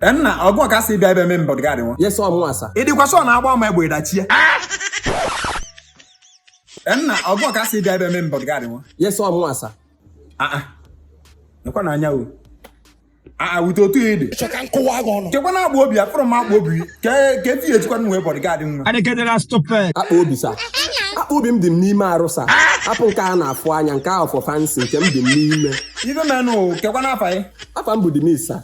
Eh, nna ọ gụ ka a sị bịa ebe mee m bodyguard nwa yes ọ mụa sa ị dịkwa sure na agba m egbe ị dachie Eh, nna ọ gụ ka a sị bịa ebe mee m bodyguard nwa yes ọ mụa sa aa nekwa na anya o aa with otu a ị dị chọ ka m kụwa gị ọnụ kekwanụ akpa obi afụrọ m akpa obi kee ife ejikwanụ wee bodyguard nwa ọ dị ka ị dị stupid. akpa obi sa akpa obi m dị m n'ime arụ sa apụ nke a na-afụ anya nke ahụ for fancy nke m dị m n'ime ife menụ kekwanụ afa ị afa m bụ dimis sa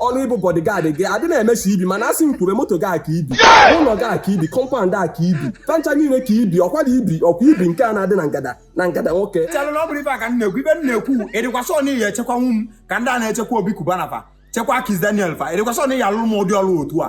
ọrụ ịbụ bodyguard gị adị na-emesi ibi mana asị m kwube moto gị aka ibi ụlọ gị aka ibi compound ka ibi furniture niile ka ibi ọkwa dị ibi ọkwa ibi nke a na-adị na ngada nwoke chelụ na ọ bụrọ ife a ka m na-ekwu ibi m na-ekwu ị dịkwa sure na ị ya-echekwanwu m ka ndị a na-echekwa Obi Cubana fa chekwa Kiss Daniel fa ị dịkwa sure na ị ya-alụrụ m ụdị ọrụ otu a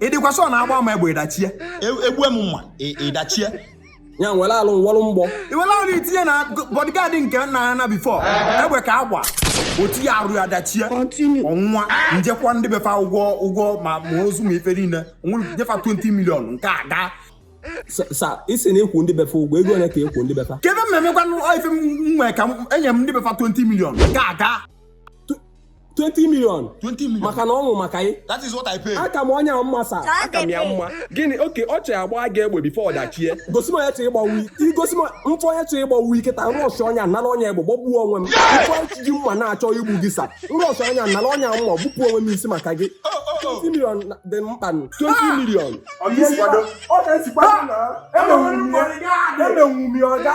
ị dịkwa sure na agba m egbe ị dachie egbue m mma ị dachie ya nwere alụ nwọrụ mgbọ i were alụ itinye na bodyguard nke nna ya na before egbe ka agba o tiye arụ ya dachie ọ nwụ nwa m je kwụa ndị be fa ụgwọ ụgwọ ma ma ozu ma ife niile nye fa 20 million nke a gaa sa ị sị na ị kwụ ndị be fa ụgwọ ego ole ka ị kwụ ndị be fa kebe mmemme gwanụ ife m nwee ka enye m ndị be fa 20 million nke a gaa 20 million 20 million. maka na ọ nwụ maka ị That is what I pay. aka m onye a mma sa aka m ya mma gịnị okay ọ chọrọ agba gị egbe before ọ dachie gosi m onye chọrọ ịgbagbu ị i gosi m m fụ onye chọrọ ịgbagbu ị kịtaa m rushia onye a nara onye egbe gbagbuo onwe m m fụ onye ji mma na-achọ igbu gị sa m rushia onye a nara onye a mma gbupụ onwe m isi maka gị Oh, oh, 20 million na-adị mkpa nụ. 20 million Ọ ka esikwa na emenwu m ya emenwu m ya ọga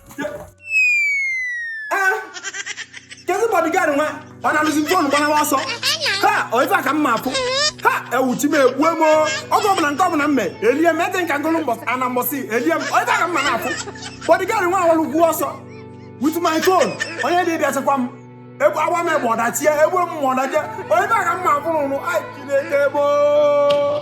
kedu bodyguard nwa ọ nalụzi phone gbanawa ọsọ ha ọ ife a ka m na-apụ ha ewuchi m egbue m oge ọbụla nke ọbụla m mee elie m ete nka ngụlụ mbọsị ana mbọsị elie m ọ ife a ka m na-apụ bodyguard nwa awalụgwo ọsọ with my phone onye dị bịa chekwa m egbu agba m egbe ọ dachie egbu m mma ọ dachie ọ ife a ka m na-apụ n'ụlụ ai chineke gboo